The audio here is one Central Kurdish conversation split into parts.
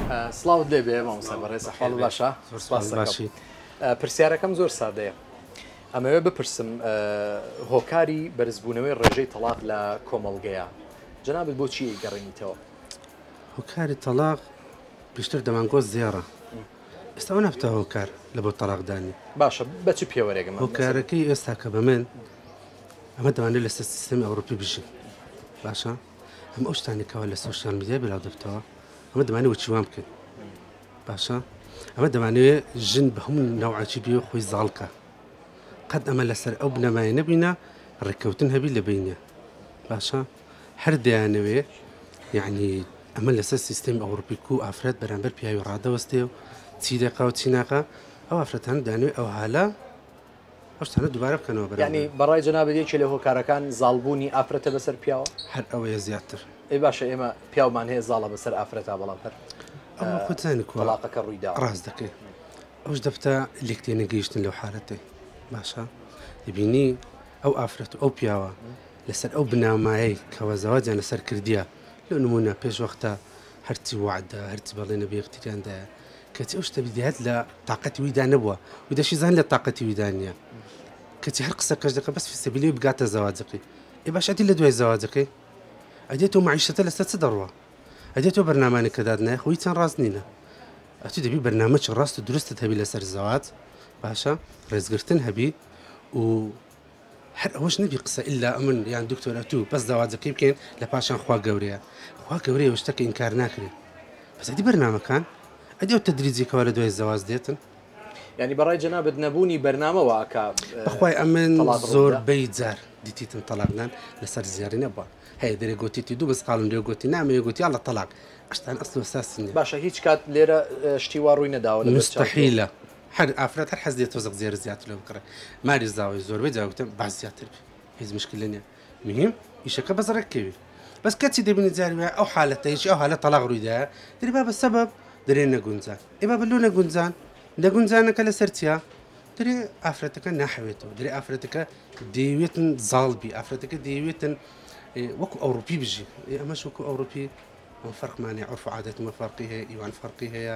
سڵاوت لێ بێ مامۆستا بەڕێز حاڵ باشە سپاس باشی پرسیارەکەم زۆر سادەیە ئەمەوێ بپرسم هۆکاری بەرزبوونەوەی ڕێژەی تەڵاق لە کۆمەڵگەیە جنابت بۆچی گەڕێنیتەوە هۆکاری تەلاق پێشتر دەمانگۆ زێڕە ئێستا ئەو نفتە هۆکار لە بۆ تەلاقدانی باشە بە چ پێوەرێکم هۆکارەکەی ئێستا کە بە من ئەمە دەوانێت لەسەر سیستمی ئەوروپی بژین باشە ئەم ئەو شتانە کەوا لە سوۆشال میدیای بلاو دەبتەوە ئەمە دەمانە وەچی وام بکەین باشە ئەمە دەمانەوێت ژن بە هەموو ناوعاچی بێ خۆی زاڵکە قەت ئەمە لەسەر ئەو بنەمای نەبینە ڕێککەوتن هەبی لە بینە باشە هەر دەیانەوێ یعنی ئەمە لەسەر سیستم ئەوروپیک و ئافرەت بەرامبەر پیاوی ڕادەوەستێ و چی دەکا و چیناکە ئەو ئافرەتان دانوێ ئەو هالە ئەو شتانە دووبارە بکەنەوە برا یعنی گیان. بەڕای جەنابت یەکێ لە هۆکارەکان زاڵبوونی ئافرەتە بەسەر پیاوە؟ هەر ئەوەیە زیاتر. ئەی باشە ئێمە پیاومان هەیە زاڵە بەسەر ئافرەتا بەڵام هەر ئەوە خۆت زانی کوا تەڵاقەکە ڕووی داوە. ڕاست دەکەی ئەوش دەفتە لێک تێ نەگەیشتن لەو حالەتەی باشە دەبینی ئەو ئافرەت و ئەو پیاوە لەسەر ئەو بنامایەی کەوە زەواجیان لەسەر کردیە لەو نمونە پێش وەختە هەرچی وعدە هەرچی بەڵێنە بە یەکتریاندایە کەچی ئەو شتە بیدەیات لە تااقەتی ویدا نەبووە و دەشی زان لە تااقەتی ویدا نیە کەچی هەر قسە کەش دەکە بەس فیسەبیلی بگاتە زەواجەکەی ئێ باش ئەدی لە دوای زەواجەکەی ئەدێ تۆ معیشەتە لەسەر چ دەڕوە ئەدێ تۆ بەرنامانە کە دادنای خۆی چەند ڕاست نینە ئەتو دەبی بەرنامەچ ڕاست و درستت هەبی لەسەر زەوات باشە ڕێزگرتن هەبی و هەر ئەوەش نەبی قسە ئیلا ئەمن یان دکتۆر ئەتوو بەس داواجەکەی بکەین لە پاشان خوا گەورەیە خوا گەورەیە و شتەکە ئینکار ناکرێ بەس ئەدی بەرنامەکان ئەدی ئەو تەدریجی کەوا لە دوای زەواج دێتن یانی بەڕای جەنابت نەبوونی بەرنامە وا ئەکا بەخوای ئەمن تەڵاق ڕوو زۆر بدا؟ بەی جار دیتیتن تەلاقدان لەسەر زیاری نەبووە هەیە دەرێ گۆتیتی دوو مسقاڵم لێ گۆتی نامەوێ گۆتی یاڵڵە تەلاق ئەشتان ئەسڵ و ئەساسی نیە باشە هیچ کات لێرە اه، شتی وا ڕووی نەداوە لە بەرچاو تۆ؟ مستحیلە هەر ئافرەت هەر حەز دێت تۆزەک زێرە زیاتر لۆ بکڕێ ماری زاوەی زۆربەی جار وتم با زیاتر بێ هیچ مشکلە نیە مهم ئیشەکە بەس ڕێک کەوی بەس کەچی دەبینی جاری وایە ئەو حالەتە هیچ ئەو حالە تەلاق ڕوویدا دەری با بە سەبەب دەرێ نەگونجان ئێ با بە لۆ نەگونجان نەگونجانەکە لەسەر چیا دەرێ ئافرەتەکە ناحەوێتەوە دەرێ ئافرەتەکە دەیەوێتن زاڵ بی ئافرەتەکە دەیەوێتن وەکو ئەوروپی بژی ئێ ئەمەش وەکو ئەوروپی وفرقمانێ عرف و عادەتمە فەرقی هەیە ئیوان فەرقی هەیە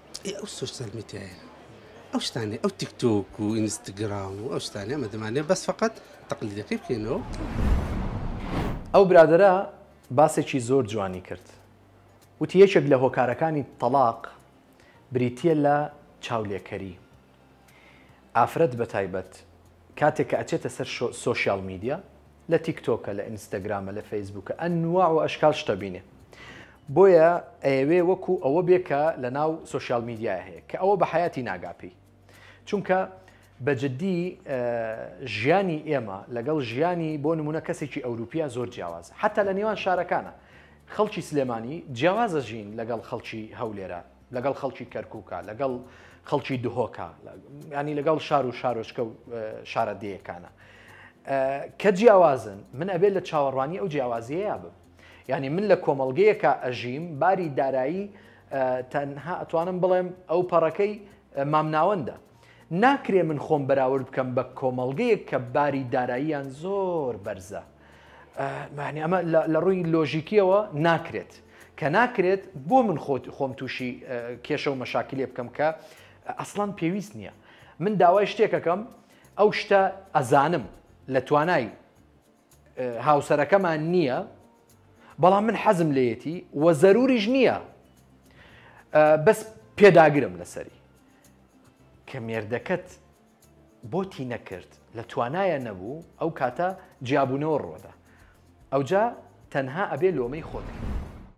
ئێ ئەو سۆشیال میدیایە ئەو شتانێ ئەو تیکتۆک و ئینستاگرام و ئەو شتانە ئەمە دەمانێت بەس فقط تەقلیدەکەی بکەینەوە ئەو برادەرە باسێکی زۆر جوانی کرد وتی یەکێک لە هۆکارەکانی تەڵاق بریتییە لە چاولێکەری ئافرەت بەتایبەت کاتێک کە ئەچێتە سەر سۆشیال میدیا لە تیک تۆکە لە ئینستاگرامە لە فەیسبووکە ئەنوا و ئەشکال شتەبینێ بۆیە ئەیەوێ وەکو ئەوە بێکە لە ناو سوۆسیال میدیای هەیە کە ئەوە بە حیاتی ناگاپی چونکە بەجددی ژیانی ئێمە لەگەڵ ژیانی بۆ نمونە کەسێکی ئەوروپیا زۆر جیاواز حتا لە نێوان شارەکانە خەڵکی سلێمانی جیاوازە ژین لەگەڵ خەڵکی هەولێرە لەگەڵ خەڵکی کەرکووکە لەگەڵ خەڵکی دهۆکە ینی لەگەڵ شار و شارۆچکە و شارە دەیەکانە کە جیاوازن من ئەبێت لە چاوەڕوانی ئەو جیاوازیەیە بم ینی من لە کۆمەلگەیەکە ئەژیم باری دارایی تەنها ئەتوانم بڵێم ئەو پەڕەکەی مامناوەندە ناکرێ من خۆم بەراورد بکەم بە کۆمەڵگەیەک کە باری داراییان زۆر بەرزە ئەمە لە ڕووی لۆژیکیەوە ناکرێت کە ناکرێت بۆ من خۆت خۆم تووشی کێشە و مەشاکلێ بکەم کە ئەسڵان پێویست نییە من داوای شتێکەکەم ئەو شتە ئەزانم لە توانای هاوسەرەکەمان نییە بەڵام من حەزم لێیەتی و زەروریش نییە بەس پێداگرم لەسەری کە مێردەکەت بۆتی نەکرد لە توانایە نەبوو ئەو کاتە جیابوونەوە ڕۆدا ئەوجا تەنها ئەبێ لۆمەی خۆت